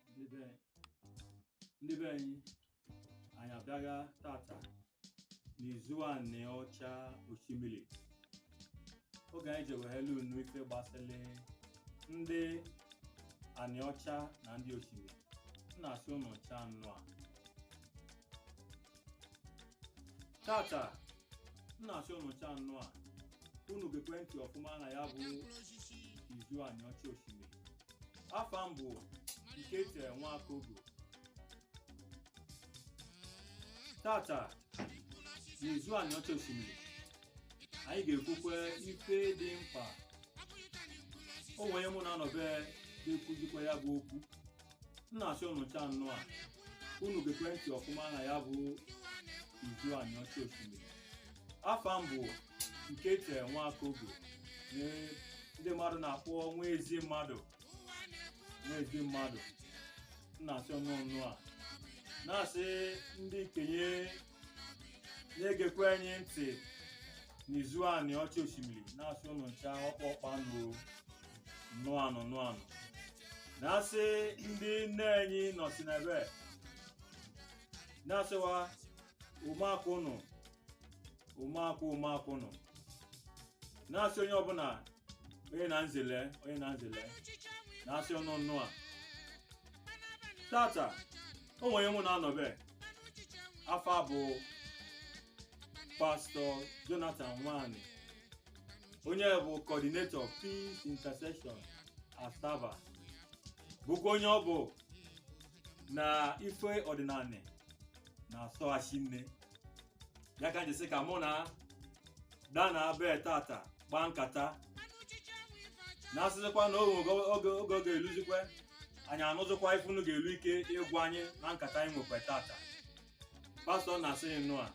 ndị be ndị be anyị anyị abịaga tata n'izu Aniocha Oshimili oge anyị ji ewehelu unu ife gbasịrị ndị Aniocha na ndị Oshimili m na-asị unu ncha nnụa tata m na-asị unu ncha nnụa unu gekwe ntị ọfụma na ya bụ izu Aniocha Oshimili afa m bụ Ikeche Nwakogo tata n'izu Aniocha Oshimili anyị ga-ekwukwe ife dị mkpa o nwere mụ na-anọbe ga-ekwuzikwa ya bụ okwu m na-asị unu ncha nnụa unu gekwe ntị ọfụma na ya bụ izu Aniocha Oshimili afa m bụ Ikeche Nwakogo onye ndị mmadụ na-akpọ nwa ezi mmadụ nwa ezi mmadụ m na-asị unu nnụa na-asị ndị ikenye na-egekwe anyị ntị n'izu Aniocha Oshimili na-asị ụnụ ncha ọkpọ ọkpa nụ nnụa nụ nnụa nụ na-asị ndị nne anyị nọsi n'ebe na-asịwa ụmụaka ụnụ ụmụaka ụmụaka ụnụ na-asị onye ọbụla onye na nzele onye na nzele na-asị unu nnụa tata o nwere onye mụ na-anọbe afa a bụ pastọ Jonathan Nwani onye bụ coordinator peace intercession Asaba bụkwa onye ọ bụ na ife ọdịnanị na-asọga shinne ya ka n ji sị ka mụ na a dana ebe tata kpaa nkata na-asịzikwa na oge ga-eluzikwe anyị anụzikwa ife unu ga-elu ike ịgwa anyị na nkata anyị nwekwe tata pastọ na-asị yị nnụa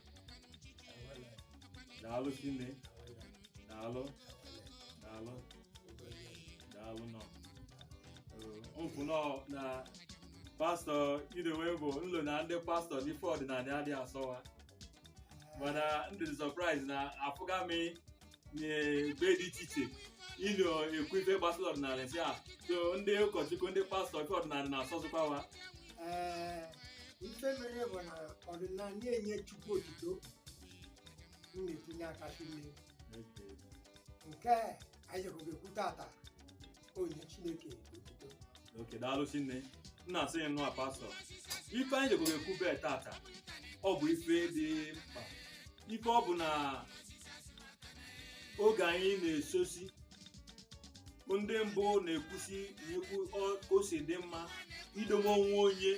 daalụ shinne daalụ daalụ daalụ nọ okwu nọ na pastọ idowe bụ n lo na ndị pastọ na ife ọdịnala adịghị asọ wa mana n dị surprise na afụga m n'ebe dị iche iche ị nọ ekwu ife gbasara ọdịnala si a so ndị ụkọchukwu ndị pastọ ife ọdịnala na-asọzikwa wa Ee, ife mere bụ na ọdịnala na-enye Chukwu otuto m na-etinye aka n'ime nke anyị jeko ekwu tata onye chineke otuto okay daalụ shinne m na-asị gị nnọọ pastọ ife anyị jeko ekwu bee tata ọ bụ ife dị mkpa ife ọ bụ na oge anyị na-esosi ndị mbụ na-ekwusi ekwu ọ- ka o si dị mma idobe onwe onye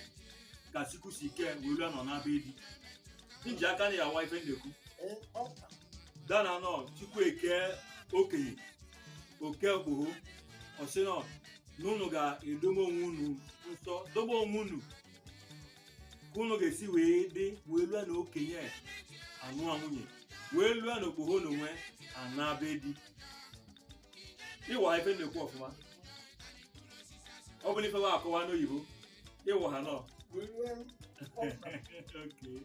ka sikwusi ike wee lue na ọ na be di nji aka na ya awa ife m na-ekwu Ee, ọ- dana nọ chukwu eke okenye o kee okpoho ọ sị nọ na unu ga-edobe onwe unu nsọ dobe onwe unu ka unu ga-esi wee dị wee lue na okenye anụa nwunye wee lue na okpoho na onwe ana be di ịwa ife m na-ekwu ọfụma ọ bụ na ife wa akọwa n'oyibo ịwa ha nọ Okay.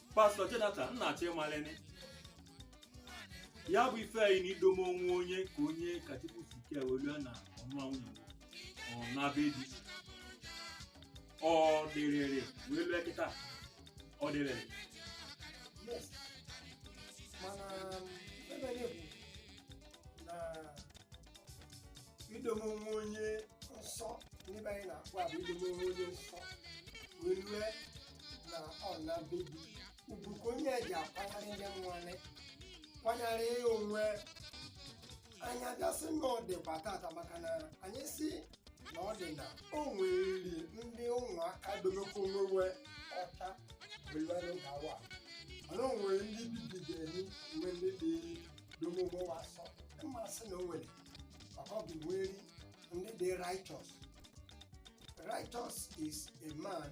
pastọ Jonathan m na-achọ ịmalene ya bụ ife anyị na idome onwe onye ka onye ka Chukwu si ike wee lue na ọ nụa nwunye ọ na be di ọ dịrịrị wee lue kịta ọ dịrịrị Yes. mana ebe anyị bụ na idome onwe onye nsọ ndị be anyị na-akpọ abụ idome onwe onye nsọ wee lue na ọ na be di ugwu ka onye ji akwanyere ndị mmanụ kwanyere onwe anyị ga-asị na ọ dịkwa tata maka na anyị si na ọ dị na o nweriri ndị ụmụaka domekwa onwe wa ọcha bụlere gawa mana o nwere ndị bibidere nwe ndị dị dome onwe wa nsọ mmasị na o nwere maka ọ bụ nweri ndị dị righteous righteous is a man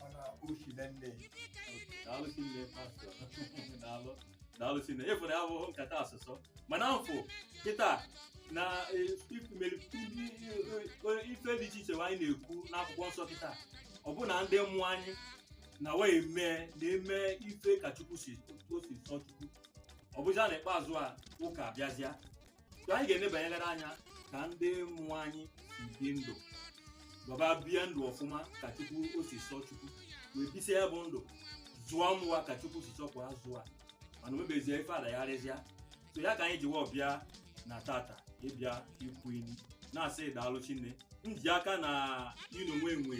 mana o si na nne daalụ shinne pastọ daalụ daalụ shinne afụ na ya bụ nkata asọ ụsọ mana m fụ kịta na eh, if- mere- ndị- eh, ife dị iche iche anyị na-ekwu n'akwụkwọ nsọ kịta ọ bụ na ndị mụ anyị na wa emee na-eme ife ka chukwu si o si sọ chukwu ọ bụzịa na ikpeazụ a ụka abịazịa So anyị ga-enebanyegara anya ka ndị mụ anyị si bi ndụ baba bie ndụ ọfụma ka chukwu o si sọ chukwu wee bisia ya bụ ndụ zụa ụmụ wa ka chukwu si chọ ka a zụa mana omebezie ife adagharịzịa so ya ka anyị ji wee bịa na tata ịbịa ikwu ini na-asị daalụ shinne nji aka na i nwe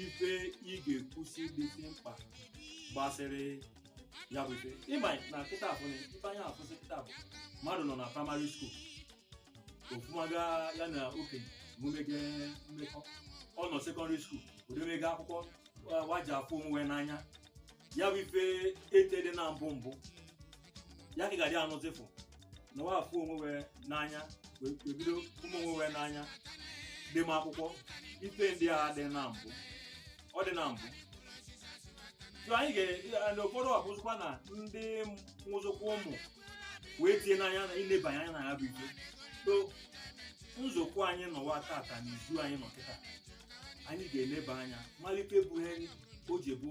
ife ị ga-ekwusi dịsị mkpa gbasịrị ya bụ ife ị ma na kịta afụ na ife anya afụsị kịta bụ mmadụ nọ na primary school ọ fụmaga ya na okenye o mege mmekọ ọ nọ secondary school o demege akwụkwọ wa- wa ji afụ onwe n'anya ya bụ ife etede na mbụ mbụ ya ka ị ga-adị anụzịfụ na wa afụ onwe wa n'anya wee wee bido ụmụ onwe wa n'anya dema akwụkwọ ife ndị a adị na mbụ ọ dị na mbụ so anyị ga na ụfọdụ abụzụkwa na ndị nwụzụkwa ụmụ wee tie n'anya na ilebanye anya na ya bụ ife so nzukọ anyị nọwa tata na izu anyị nọ kịta anyị ga-eleba anya malụ ife bụ ihe o ji bụ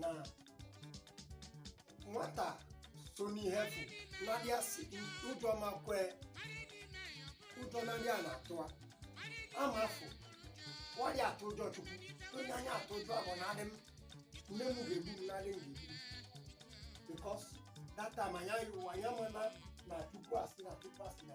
na nwata so n'ihe bụ nadị asị ụjọ ma kwee ụjọ nadị a na-atụ a ama afụ wa adị atụ ụjọ chukwu onye anyị atụ ụjọ abụ nadị m nne m ga-egbu m nadị m ga-egbu m because that time anyị ama anyị amana na chukwu asị na chukwu asị na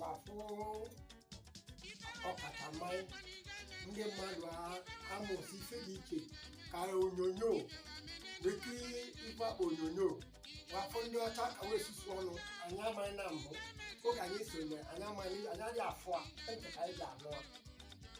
wa afụ ọkachamara ndị mmadụ a- amụsị ife dị iche ka onyonyo wa ekiri ife a kpọ onyonyo wa afụ ndị ọcha ka wa esusu ọnụ anyị amaghị na mbụ oge anyị sonye anyị amaghị anyị adịghị afụ a ntị ka anyị ji anụ a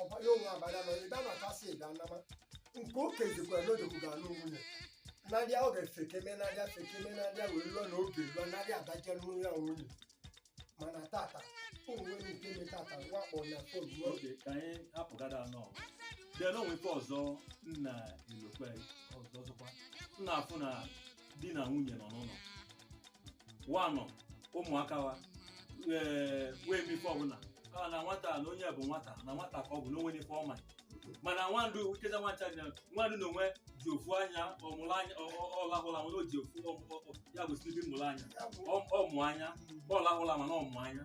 ọbanye onwe abanya na ịda na kasị ịda nama nke oke jikwa n'odogwu ga anụ nwunye nadị a ọ ga-efekeme nadị a fekeme nadị a wee lụọ na oge lụọ nadị a adaje n'ụlọ ya nwunye mana tata o nwe nke eme tata wa akpọ na fon ruo oge ka anyị apụgada anọ bịa na o nwe ife ọzọ nna elokwe ọzọ ọzọkwa nna afụ na di na nwunye nọ n'ụlọ wa anọ ụmụaka wa ee wee mee ife ọbụla a na nwata na onye bụ nwata na nwata ka ọ bụ na o nwene ife ọ ma mana nwandụ ikeza nwancha dị nwandụ na onwe ji ofu anya ọmụrụ anya ọlahụla mana o ji ofu ya bụ silibi mụrụ anya ọmụ anya ọlahụla mana ọmụ anya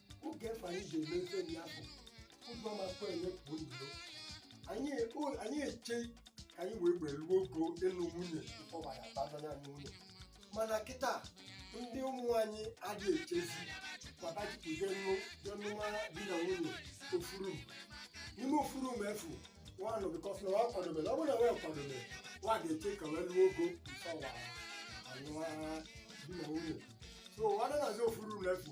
oge afụ anyị ga-eme ife ndị afụ ụzọ makwa enye pụọ iro anyị o- anyị eche ka anyị wee were ruo ogo ịlụ nwunye bifọ ma ya abazanye anyị nwunye mana kịta ndị ụmụ anyị adịghị echezi maka jipụje nnu je nụma di na nwunye ofuru n'ime ofuru ma efu nwanụ bikọs na wa akwadobere ọ bụrụ na wa akwadobere wa ga-eche ka wa ruo ogo bifọ wa anụwa di na nwunye so ọ dịnazi ofuru ma efu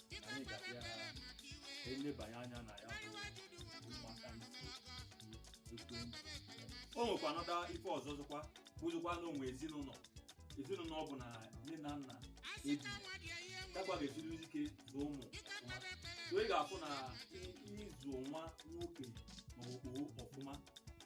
anyị ga-abịa elebanye anya na ya bụ maka ekwentị o nwekwa anọda ife ọzọ zụkwa bụzụkwa na o nwe ezinụlọ ezinụlọ ọ bụ na nne na nna ebi dakwa ga-esiri ike zụọ ụmụ ọfụma so ị ga-afụ na i- ịzụ nwa nwoke na okpoho ọfụma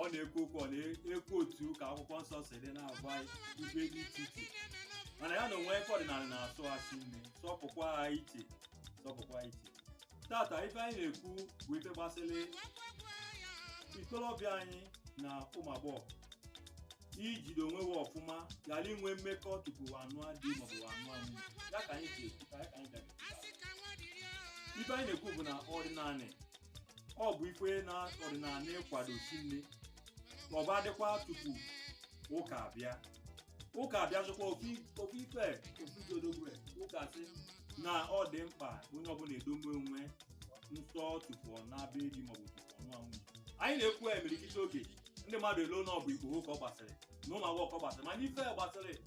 ọ na-ekwu okwu ọ na-ekwu otu ka akwụkwọ nsọ si dị na-agwa anyị ife dị iche iche mana ya na o nwe ife ọdịnala na-asọ a sị nne sọpụkwa ha iche sọpụkwa ha iche tata ife anyị na-ekwu bụ ife gbasịrị ikolobịa anyị na ụmụ agbọghọ ijide onwe wa ọfụma ghara inwe mmekọ tupu a nụa di maọbụ a nụa nwunye ya ka anyị ji ekwu ka ya ka anyị bịara ife anyị na-ekwu bụ na ọdịnala ọ bụ ife na ọdịnala kwado si na mbụ adịkwa tupu ụka abịa ụka abịazịkwa ofu ofu ife ofu jodogwe ụka sị na ọ dị mkpa onye ọbụla edobe onwe nsọ tupu ọ naba be di maọbụ tupu ọ nụa nwunye anyị na-ekwu ya imerikiti oge ndị mmadụ eloo na ọ bụ ikpoho ka ọ gbasịrị na ụmụ agbọghọ ka ọ gbasịrị mana ife gbasịrị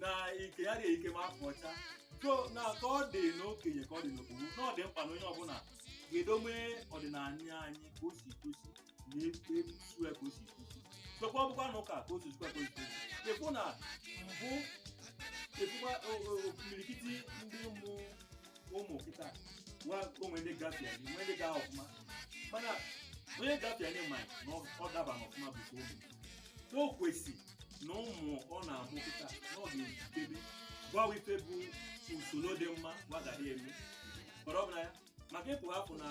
na ike ya dị ike ma akwa ọcha so na ka ọ dị n'okenye ka ọ dị n'okpoho na ọ dị mkpa na onye ọbụla ga-edome ọdịnala anyị ka o si kwesị na-eso ya ka o si kwesị sokwa ọbụkwa na ụka ka o si zukwa ka o si kwesị e kwu na mbụ e kwukwa imirikiti ndị ụmụ ụmụ kịta nwa o nwe ndị gafie nwe ndị gaa ọfụma mana onye gafie nye ma na ọ daba n'ọfụma bụ ka ụmụ na o kwesị na ụmụ ọ na-amụ kịta na ọ ga-ejikebe gwa wa ife bụ usoro dị mma wa ga na-eme kpọrọ ọbụla ya maka ịpụ hapụ na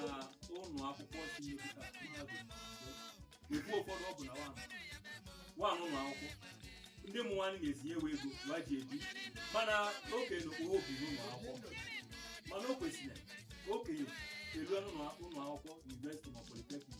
ụlọ akwụkwọ si mepụta mahadum ekwu ụfọdụ ọ bụ na wan wan ụlọ akwụkwọ ndị ụmụ nwaanyị na-ezinye ewe ego wa ji ebi mana okenye na okporo ebi n'ụlọ akwụkwọ mana o kwesịrị okenye erue ụlọ akwụkwọ university ma polytechnic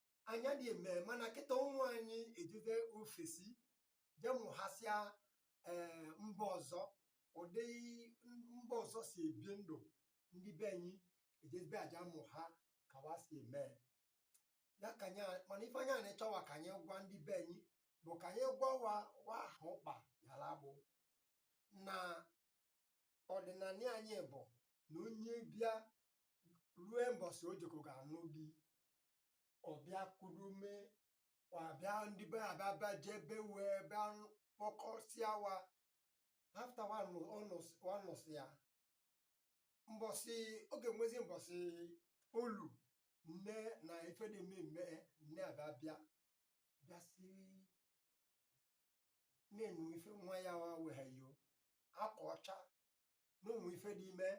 anyị adịghị eme mana kịta ụmụ anyị ejezi ofesi jee mụhasịa ee mba ọzọ ụdị mba ọzọ si ebi ndụ ndị be anyị ejebe a ja-amụha ka wa si eme ya ka anyị a- mana ife anyị a na-achọwa ka anyị gwa ndị be anyị bụ ka anyị gwa wa wa ahụ ụkpa yara bụ na ọdịnala anyị bụ na onye bịa rue mbọsị o jeko ga-anụ di ọ bịa kuru mmịa bịa ndị be ya bịa bịa jebe wee bịa kpọkọsịa wa after wa nụsịa mbọsị ọ ga-enwezi mbọsị olu nne na ife dị mmemme nne abịa bịa bịasị na-enwe ife nwa ya nwa weghe yo akwa ọcha na o nwe ife dị ime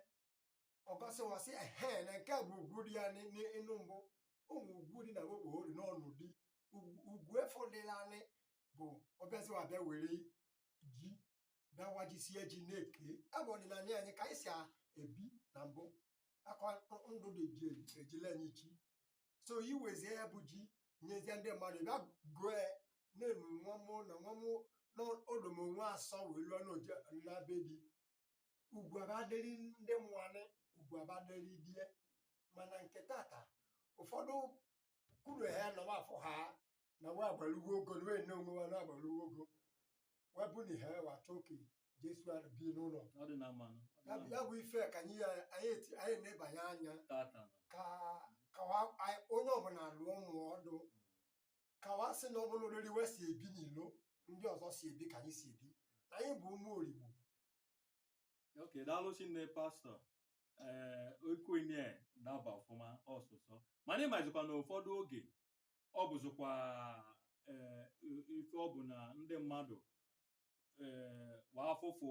o gosi wa sị ehe na nke a bụ ugwu dị ya n'ị- n'ị- ịnụ mbụ ụmụ ugwu dị na okpoho dị n'ụnọ di Ugwu- ugwu efo dị nanị bụ ọ bịazi wa bịa were ji bịa wajisie ji na nke a bụ ọdịnala anyị ka anyị si a- ebi na mbụ akwa ndụ dị ji ejile anyị chi so i wezie ya bụ ji nyezie ndị mmadụ bịa gụọ ya na-enu nwa mụ na nwa mụ na o domo onwe asọ wee lụọ n'oje na be di ugwu abadịrị ndị mụanị ugwu abadịrị di e mana nke tata ụfọdụ kwuru ha na wa afụ ha na wa agbalugo ogo na wee nne onwe wa na agbalugo ogo wa bụ na ihe wa chọọ ka jesu ara bi n'ụlọ ọ dị na mmanụ ọ dị ya na bụ- mmanụ. ya bụ ife ka anyị ya- anyị eti- anyị nebanye anya tata na ka ka wa- anyị- onye ọbụla dụọ ụmụ ọdụ ka wa sị na ọ bụrụ oriri we si ebi n'ilo ndị ọzọ si ebi ka anyị si ebi na anyị bụ ụmụ Oligbo ok daalụ shinne pastọ ee okwenye daba ọfụma ọsụsọ mana ịmazikwa na ụfọdụ oge ọ bụzikwa ee, ife ọ bụ na ndị mmadụ ee, wa afụfụ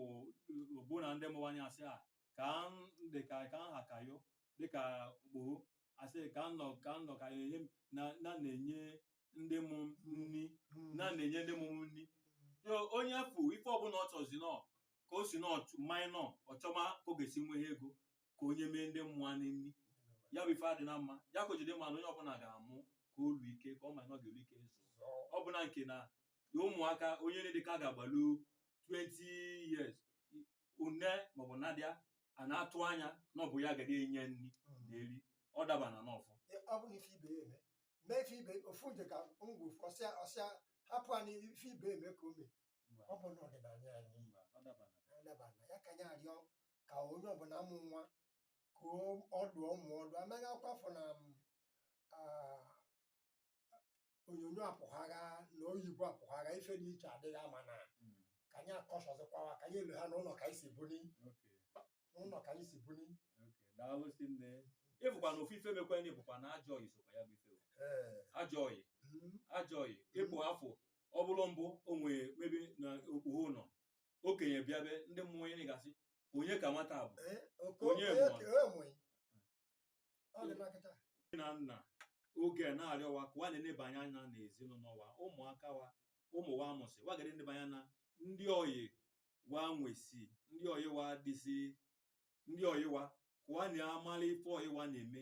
bụ na ndị mụanị ya asị a ka m dị ka ka nha ka yo dịka okpoho asị ka m nọ ka m nọ ka enye m- na na na-enye ndị mụ nri na na-enye ndị mụ nri so onye fụ ife ọbụla ọ chọzi nọ ka o si nọ minọ ọ chọma ka ọ ga-esi nwee ego ka o nyeme ndị mụanị nri ya bụ ife adịna mma ya ka o ji dị mma na onye ọbụla ga-amụ ka o ruo ike ka ọ ma na ọ ga-eru ike ịzụ ọ bụ na nke na na ụmụaka onye dị ka ga-agbalu 20 years une maọbụ ndị a na-atụ anya na ọ bụ ya ga-adị enye nri na eri ọ dabana n'ọfụ ọ bụ na ife ibe ya eme mee ife ibe ofu nje ka ngwa ofu ọsịa ọsịa hapụ anyị ife ibe eme ka o mee ọ bụna ọdịnala anyị ọ dabana ọ dabana ya ka anyị arịọ ka onye ọbụla mụ nwa ka o- ọ dụọ ụmụ ọdụ anaghị akwafọ na m, ah, onyonyo apụhaa na oyibo apụhaa ife dị iche adịghị ama na Mm. ka anyị akọsọzikwawa ka anyị elu ha n'ụlọ ka anyị si buni Okay. n'ụlọ ka anyị si buni Okay. Daalụ shinne. Ị bụkwa na ofu ife mekwa ndị bụkwa na ajọ ọyị sokwa ya bụ ife. o. Ee, Ajọ ọyị. mm, ajọ ọyị ịpụ afọ ọ bụrụ mbụ o nwere ebe na okpoho nọ okenye bịa be ndị mụanị ga-asị onye ka nwata bụ eh, onye na nna oge na-arịọ wa ka wa na-enebanye anya na ezinụlọ wa ụmụaka wa ụmụ wa mụsị wa ga-adị enebanye anya na ndị ọyị wa nwesi ndị ọyị wa dịsị ndị ọyị wa ka wa na-amala ife ọyị wa na-eme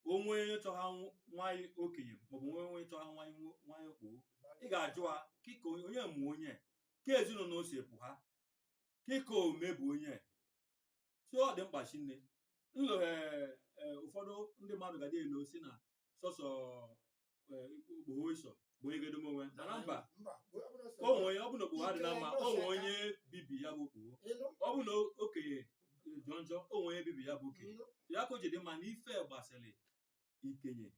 o nwe onye chọha nw- nwa ị okenye maọbụ o nwe onye chọha nwa ị nwo- nwa ị okpoho ị ga-ajụ ha kị ka onye onye mụ onye ka ezinụlọ o si pụha kị ka o mebu onye so ọ dị mkpa shinne nlụghe ụfọdụ ndị mmadụ ga-adị elo sị na sọsọ okpoho iso bụ onye ga-edome onwe ya mana mba mba gbuo abụrụ sọ onwe onye ọ bụ na okpoho adị na mma o nwe onye bibi ya bụ okpoho ịnụ ọ bụ na okenye jọ njọ o nwe onye bibi ya bụ okenye ịnụ ya ka o ji dị mma na ife gbasịrị ikenye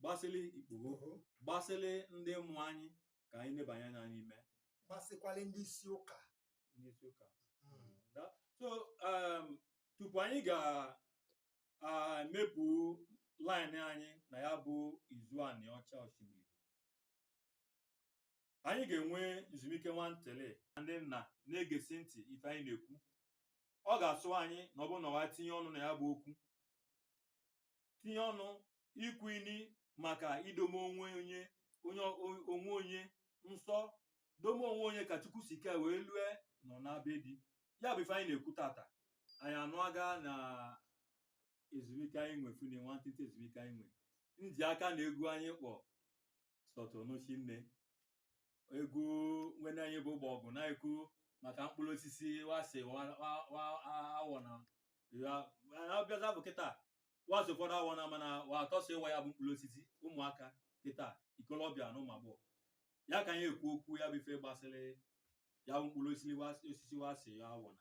gbasịrị ikpoho gbasịrị ndị mụ anyị ka anyị nebanye anya n'ime gbasịkwala ndị isi ụka n'isi ụka Mm. Da- so um, tupu anyị ga emepụ line anyị na ya bụ izu Anịọcha Oshimili anyị ga-enwe nzumike nwantele ndị nna na-egesi ntị ife anyị na-ekwu ọ ga-asọ anyị na ọ bụ na wa tinye ọnụ na ya bụ okwu tinye ọnụ ikwu ini maka idome onwe onye onye onwe onye nsọ dome onwe onye ka Chukwu si kee wee lue nọ na be di ya bụ ife anyị na-ekwu tata anyị anụ aga na ezumike anyị nwe fune nwantịntị ezumike anyị nwe nji aka na egwu anyị kpọ sọtụnụchi nne egwu nwenne anyị bụ Ogbogu na-ekwu maka mkpụrụ osisi wa sị awọna a bịaza bụ kịta wa sị ụfọdụ awọna mana wa atọ so ịwa ya bụ mkpụrụ osisi ụmụaka kịta ikolobịa na ụmụ agbọghọ ya ka anyị ekwu okwu ya bụ ife gbasịrị ya bụ mkpụrụ osisi wa sị ya awọna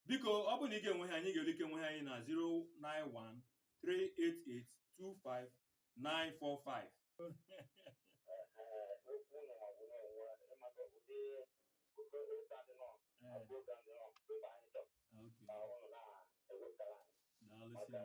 biko ọ bụ na ị ga-enwehe anyị ga-enwe ike nwehe anyị na 09138825945 Okay. Daalụ sir.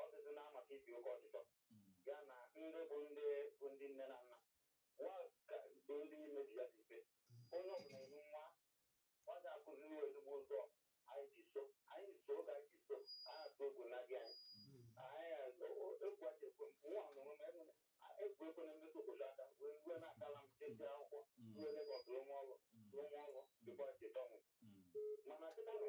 ọ dịzi na maka ibi oke ọchịchọ ya na ndị bụ ndị bụ ndị nne na nna wa ka bụ ndị imebi ya dị mfe onye ọbụla enu nwa ọ ga-akụziri ya ezigbo ụzọ anyị ji so anyị so oge anyị ji so a na-atụ egwu na gị anyị anyị o- o- egwu adị ekwe mụ nwa na onwe m enu na a- egwu ekwena m metụ okpoho aka wee rue na akala m jesi akwụkwọ rue Legọs rụọ m ọrụ rụọ m ọrụ dịkwa cheta ọnwụ mana cheta nụ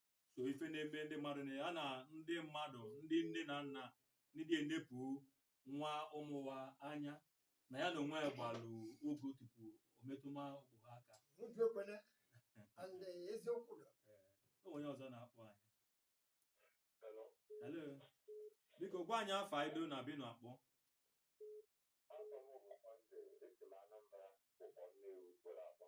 so ife na-eme ndị mmadụ na ya na ndị mmadụ ndị nne na nna adị enepụ wa ụmụ wa anya na ya na onwe ya gbalụ ọgụ tupu o metụma okpoho aka N'obi ekwene, and eh, eziokwu dọ. o onye ọzọ na-akpọ anyị Hello. hello biko gwa anyị afa ị do na ebe ị nọ akpọ Afa m bụ Monday, esi m Anambra, Ukpor Nnewi kwere akwa.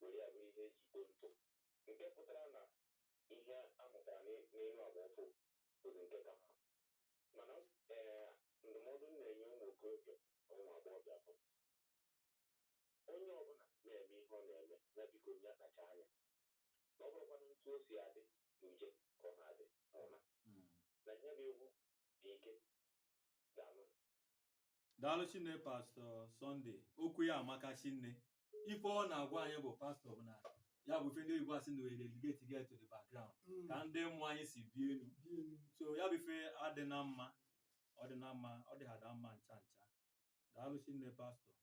were ya bụrụ ihe e ji kpo ntụ, nke pụtara na ihe a mụtara n'elu agba ọfụụ bụzi nke ka mma. Mana ee ndụmọdụ m na-enye ụmụ okorobịa na ụmụ agbọghọbịa bụ onye ọbụla na-eme ihe ọ na-eme ya biko ya kpacha anya na ọ bụrọkwanụ etu o si adị n'uje ka ọ na-adị n'ụla na ya bụ egwu dị ike daalụ daalụ shinne Pastor Sunday okwu ya amaka shinne ife ọ na-agwa anyị bụ pastor bụ na ya bụ ife ndị oyibo asị na relegate get to the background Mm. ka ndị mụ anyị si bie enu Bie enu. so ya bụ ife adị na mma ọ dị na mma ọ dị ha da mma ncha ncha daalụ shinne pastor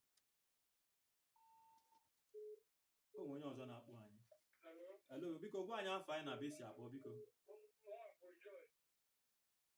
o nwere onye ọzọ na-akpọ anyị hello biko gwa anyị afa ị na ebe i si akpọ biko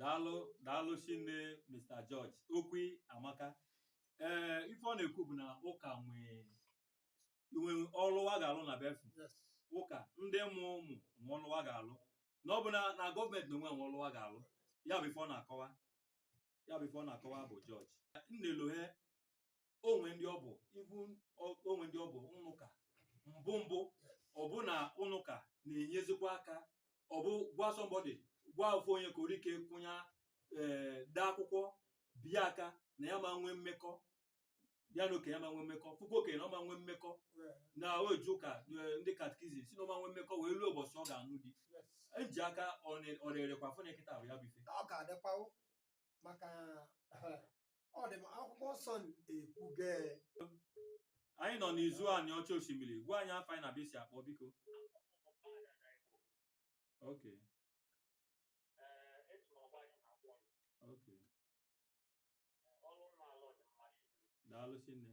daalụ daalụ shinne Mr George okwu ị amaka ee ife ọ na-ekwu bụ na ụka nwe ọlụ wa ga-alụ na befu ụka ndị mụ ụmụ nwe ọlụ wa ga-alụ na ọ bụ na na gọọmenti n'onwe nwe ọlụ wa ga-alụ ya bụ ife ọ na-akọwa ya bụ ife ọ na-akọwa bụ George nnelohe o nwe ndị ọ bụ ibu o nwe ndị ọ bụ ụnọ ụka mbụ mbụ ọ bụ na ụnọ ụka na-enyezikwa aka ọ bụ gwa somebody gwa ofu onye ka orike kwụnya ee eh, dee akwụkwọ bie aka na ya ma nwee mmekọ ya na okenye ma nwee mmekọ puku okenye na ọ ma nwee mmekọ na-eje ụka eh, ndị catechism sị na ọ ma nwee mmekọ wee lue ụbọchị ọ ga-anụ di eji aka ọ na-erekwa fụ na kịtaa bụ ya bụ ife maka ọ dị m akwụkwọ nsọ ekwuge anyị nọ n'izu Anịọcha Oshimili gwa anyị afa ị na ebe i si akpọ biko okay okay daalụ shinne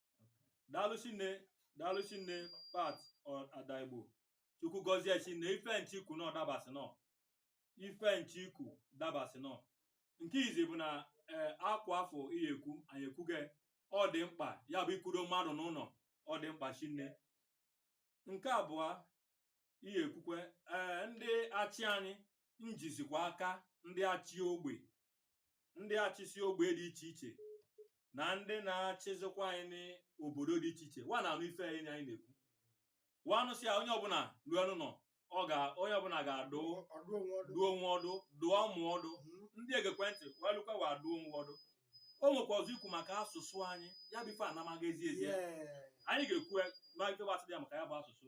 daalụ shinne daalụ shinne Pat ọ- ada Igbo Chukwu gọzie shinne ife m chọ ikwu na ọ dabasị nọ ife m chọ ikwu dabasị nọ nke izi bụ na ee akwa afụ ihe ekwu anyị ekwuge ọ dị mkpa ya bụ ikwudo mmadụ n'ụnọ ọ dị mkpa shinne nke abụọ ihe ekwukwe ee ndị achị anyị nyezikwa aka ndị achị ogbe ndị achịsi ogbe dị iche iche na ndị na-achịzikwa anyị n'obodo dị iche iche wa na-anụ ife anyị na anyị na-ekwu wa anụsị ya onye ọbụla lue ụnọ ọ ga onye ọbụla ga-adụ ọdụ onwe ọdụ dụọ onwe ọdụ dụọ ụmụ ọdụ Mhm. ndị egekwe ntị wee lụkwa wa dụọ onwe ọdụ o nwekwa ọzọ i kwu maka asụsụ anyị ya bụ ife amaka ezi ezi Yeah. anyị ga-ekwu ya ma ife gbasara ya maka ya bụ asụsụ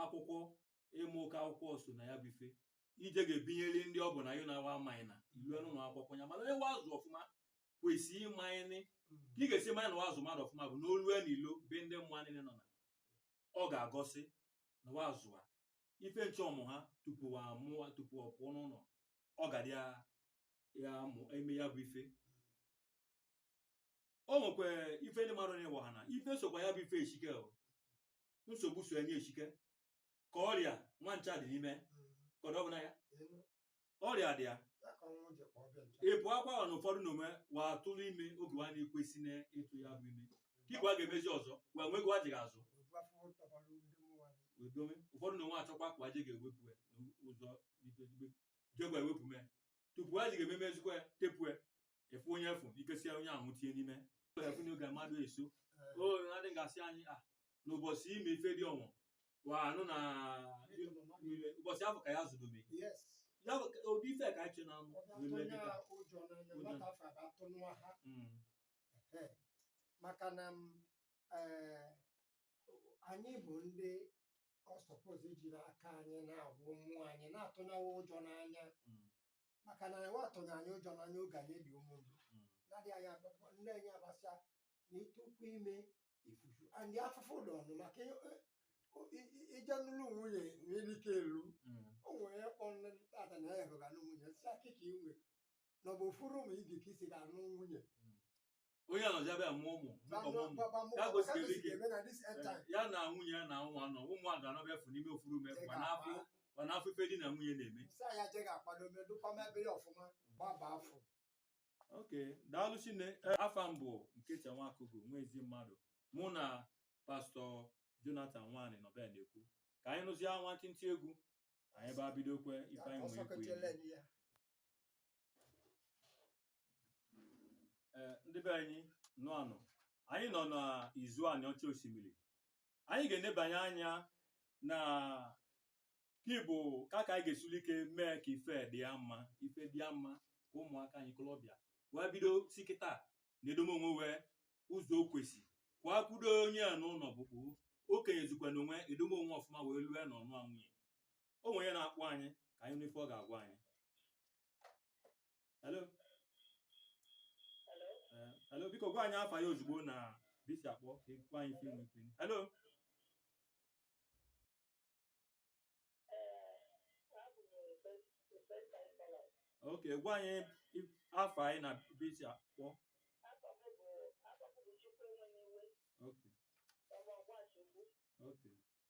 akwụkwọ ịmụ oke akwụkwọ so na ya bụ ife ije ga-ebinyeli ndị ọ bụ na yụ na-awa amaghị na ilue n'ụnọ akwụkwọ ya mana wa azụ ọfụma kwesị ịmanyịnị ka ị ga-esi ma na wa azụ mmadụ ọfụma bụ na o lue n'ilo ebe ndị mmadụ niile nọ na ọ ga-egosi na wa azụ a ife ncha ọmụ ha tupu wa mụọ tupu ọ pụọ n'ụlọ ọ ga ya eme ya bụ ife o nwekwa ife ndị mmadụ na-ewe ha na ife sokwa ya bụ ife eshi ike o. nsogbu so enye eshi ike ka ọrịa wa ncha dị n'ime ka ọ dọbụ na ya ọrịa dị ya ịpụ akwa ahụ na ụfọdụ n'ime wa atụrụ ime oge wa na-ekwesị na ịtụ ya bụ ime kị wa ga-emezi ọzọ wa nwee gị wa jighị azụ wee dowe ụfọdụ na onwe achọkwa ka wa je ga-ewepụ ya n'ụzọ n'ike ezigbo jegwa ewepụ mee tupu a ji ga-ememe ezigbo ya tepụ ya efu onye efu ikesia onye ahụ tie n'ime efu na oge mmadụ eso o adị gasị anyị a n'ụbọchị ime ife dị ọnwụ wa anụ na ụbọchị afọ ka ya zụdobe Yes. ya bụ ka- ụdị ife ka anyị che na Ọ bụ atụnye wa ụjọ n'anya, Ụjọ. nwata afọ abụ atụ nwa ha. Ehe. maka na m, eh, anyị bụ ndị ọ suppose ejiri aka anyị na-agwa ụmụ anyị na-atụnye wa ụjọ n'anya mm, maka na wa atụnye anyị ụjọ n'anya oge anyị dị ụmụndu mm, na-adịghị anyị agbakọ nne anyị agbasịa na ịtụkwu ime ifufu and afụfụ dị ọnụ maka ị- ị- ị- ị- ije nụlụ nwunye nwere ike elu mm, o nwere ya kpọ nne tata na ya ga-anụ nwunye sị a kị ka i nwe na ọ bụ ofu room ị ga-eke isi ga-anụ nwunye mm. onye anọzịa bịa mụọ ụmụ mụkọba ụmụ ya gosiri ike ya na nwunye ya na wa nọ ụmụ a ga-anọ ebe afụ n'ime ofu room ma na-afụ ma na-afụ ife di na nwunye na-eme ok daalụ shinne afa m bụ nkechi nwakugo nwa ezi mmadụ mụ na pastọ jonathan nwani nọ ebe a na-ekwu ka anyị nụzie nwantịntị egwu anyị baa bidokwe ife anyị nwee ekwu ya Eh, ndị be anyị nnụa nụ anyị nọ n'izu anịọcha osimiri anyị ga-enebanye anya na kị bụ ka ka anyị ga-esuli ike mee ka ife dị ya mma ife dị ya mma ka ụmụaka anyị ikolobịa wee bido si kịta na-edome onwe wa ụzọ o kwesị ka wa kwụdo onye a n'ụlọ bụkpụ okenye zukwa na onwe edome onwe ọfụma wee lue na ịnụ nwunye o nwere onye na-akpọ anyị ka anyị nụ ife ọ ga-agwa anyị hello eh, hello biko gwa anyị afa yị ozugbo na ebe i si akpọ ka ị gwa anyị ife i nwe ekwu hello ok gwa anyị afa yị na ebe i si akpọ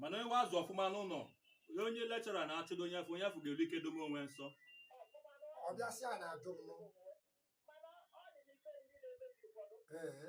mana onye wa azụ ọfụma n'ụnọ onye lecturer na-achụdo onye afụ onye afụ ga-eru ike dome onwe nsọ ọ bịasịa na ajụ m ee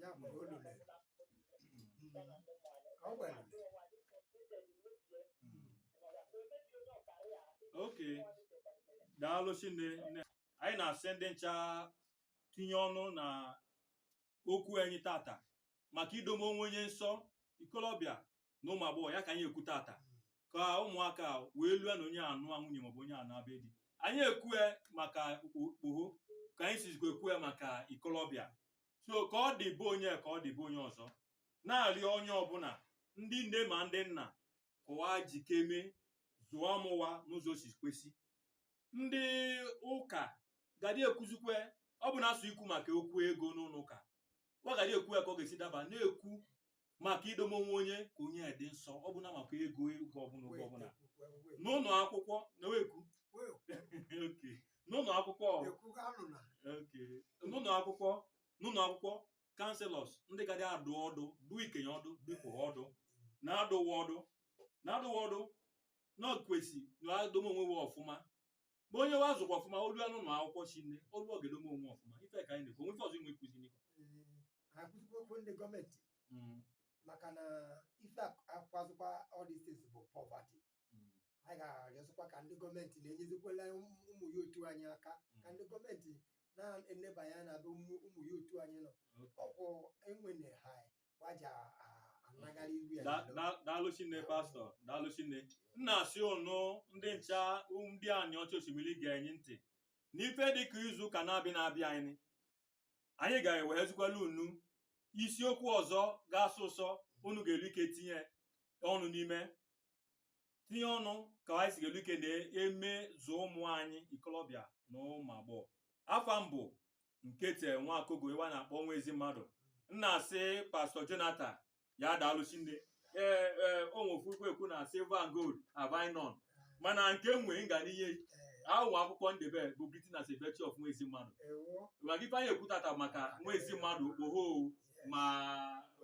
ya bụ olulu ọ gwara okay daalụ shinne nne anyị na-asị ndị ncha tinye ọnụ na okwu anyị tata maka idome onwe onye nsọ ikolobịa na ụmụ agbọghọ ya ka anyị ekwu tata ka ụmụaka wee lue na onye anụ nwunye maọbụ onye anụ be di anyị ekwue maka okpoho ka anyị sizikwa ekwue maka ikolobịa so ka ọ dị be onye ka ọ dị be onye ọzọ na-arịọ onye ọbụna ndị nne ma ndị nna ka wa jikeme zụọ ụmụ wa n'ụzọ o si kwesị ndị ụka gadị ekwuzikwe ọ bụna sọ ikwu maka okwu ego n'ụnọ ụka wa gadị ekwu ya ka ọ ga-esi daba na-ekwu maka idome onwe onye ka onye dị nsọ ọ bụna maka ego oge ọbụna oge ọbụna n'ụnọ akwụkwọ na-ekwu okay n'ụnọ akwụkwọ okay n'ụnọ akwụkwọ n'ụnọ akwụkwọ counsellors ndị gadị adụ ọdụ dụ ikenye ọdụ dụ ikpoho ọdụ na-adụ wa ọdụ na-adụ wa ọdụ na kwesị na wa dome onwe we ọfụma ma onye wa zụkwa ọfụma o lue n'ụnọ akwụkwọ shinne o lue ọ ga-edome onwe ọfụma ife ka anyị na-ekwu o nwe ife ọzọ i nwe ikwuzi n'ife akwụsịkwa okwu ndị gọọmenti Mm, maka na ife akwazikwa all these things bụ poverty mm, anyị ga-arịọzikwa ka ndị gọọmenti na-enyezikwala ụmụ ụmụ youth anyị aka ka ndị gọọmenti na-enebanye anya na be ụmụ ụmụ youth anyị nọ okay. ọkwụ enwene ha daalụ shinne pastọ daalụ shinne m na-asị unu ndị ncha ndị Aniocha Oshimili ga-enye ntị n'ife dịka izu ụka na-abịa na-abịa anyị anyị ga-ewehezikwala unu isiokwu ọzọ ga-asọ ụsọ unu ga-elu ike tinye ọnụ n'ime tinye ọnụ ka anyị si ga-elu ike na-eme zụọ ụmụ anyị ikolobịa na ụmụ agbọghọ afa m bụ Nkete Nwakogo wa na-akpọ nwa ezi mmadụ m na-asị pastọ Jonathan ya daalụ shinne ee ee o nwe ofu ekwu na silver and gold have I none mana nke m nwee m ga-enye ị akwụkwọ akwụkwọ m debe bụ britain as a virtue of nwa ezi mmadụ ewo maka ife anyị ekwu tata maka nwa ezi mmadụ okpoho ma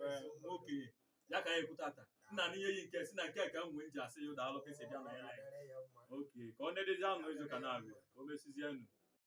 eh, nwa okenye ya ka anyị ekwu tata m na-enye ị nke a sị na nke a ka m nwee m ji asị ya daalụ ka i si bịa na ya Ọ dịrị ya mma. okay ka ọ na-edezi anụ izu ụka na-abịa o mesizienụ